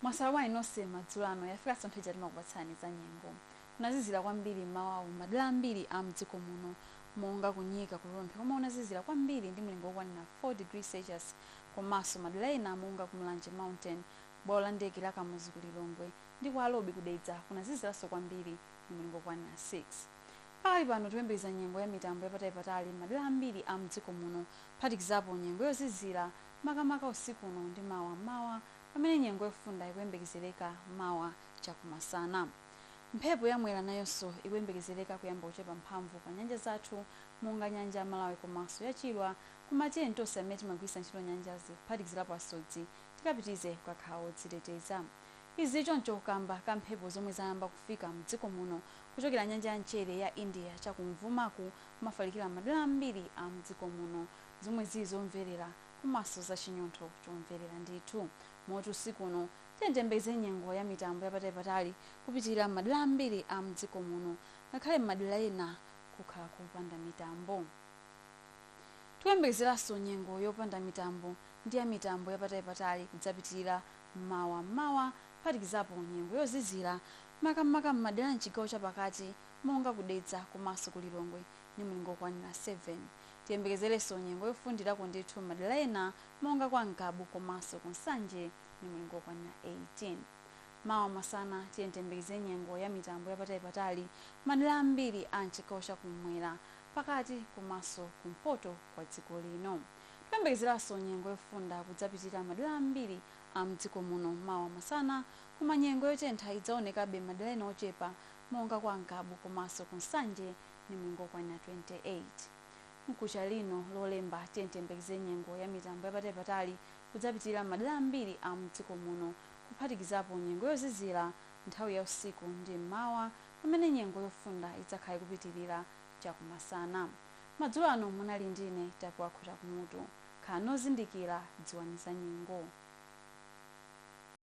mwaswera bwanji nonse madzulo ano yafikanso nthawi ija timakupatsirani za nyengo kunazizira kwambiri mmawawu madera ambiri a mdziko muno monga kunyika ku rumphi komwe kunazizira kwambiri ndi mlingo wokwanira 4 degrees celsius komanso madera ena monga ku mulanje mountain bwalo la ndege la kamuzu ku lilongwe ndi kwa alobi ku dedza kunaziziranso kwambiri ndi mlingo wokwanira 6 Pakali pano tikuyembekeza nyengo ya mitambo yapatalipatali m'madela ambiri a m'dziko muno kuphatikizapo nyengo yozizila makamaka usiku uno ndi mawa m'mawa pamene nyengo yofunda ikuyembekezeleka mawa chakumasana. Mphepo ya Mwera nayonso ikuyembekezeleka kuyamba kuchepa mphamvu pa nyanja zathu monga nyanja ya Malawi komaso ya Chilwa koma tiyeni tonse amene timagwiritsa ntchito nyanjazi kuphatikizilapo asodzi tikapitirize kukakhala odziteteza. Izi zili choncho kamba ka mphepo zomwe zayamba kufika mdziko muno kuchokera nyanja ya mchere ya India cha kumvumaku kumafalikira m'madera ambiri a mdziko muno zomwe zili zomverera komanso za chinyontho chomverera ndithu moti usiku uno tiyembekeze nyengo ya mitambo yapatalipatali kupitilira m'madera ambiri a mdziko muno ngakhale m'madera ena kukhala kopanda mitambo. Tikuyembekezeranso nyengo yopanda mitambo ndi ya mitambo yapatalipatali kudzapitilira mawa m'mawa, kuphatikizapo nyengo yozizira, makamaka m'madera a m'chigawo chapakati monga ku Dedza komanso ku Lilongwe ndi mlingo wokwanira 7. Tiyembekezerenso nyengo yofundirako ndithu m'madera ena monga kwa Ngabu komanso ku Nsanje ndi mlingo wokwanira 18. Mawa masana tiyeni tiyembekeze nyengo ya mitambo yapatalipatali m'madera ambiri a m'chigawo cha kummwera, pakati komanso kumpoto kwa dziko lino. Tikuyembekezeranso nyengo yofunda kudzapitilira madera ambiri a mdziko muno mawa masana koma nyengo yotentha idzaonekabe madera ena ochepa monga kwa Ngabu komaso ku Nsanje ndi mlingo wokwanira 28. Mkuja lino lolemba tiyeni tiyembekeze nyengo ya mitambo yapatali patali kudzapitilira madera ambiri a mdziko muno kuphatikizapo nyengo yozizira nthawi ya usiku ndi m'mawa pamene nyengo yofunda idzakhala ikupitilira chakumasana. Madzulo ano munali ndine Tapiwa Khota Kumutu. Khalani ozindikila, dziwani za nyengo.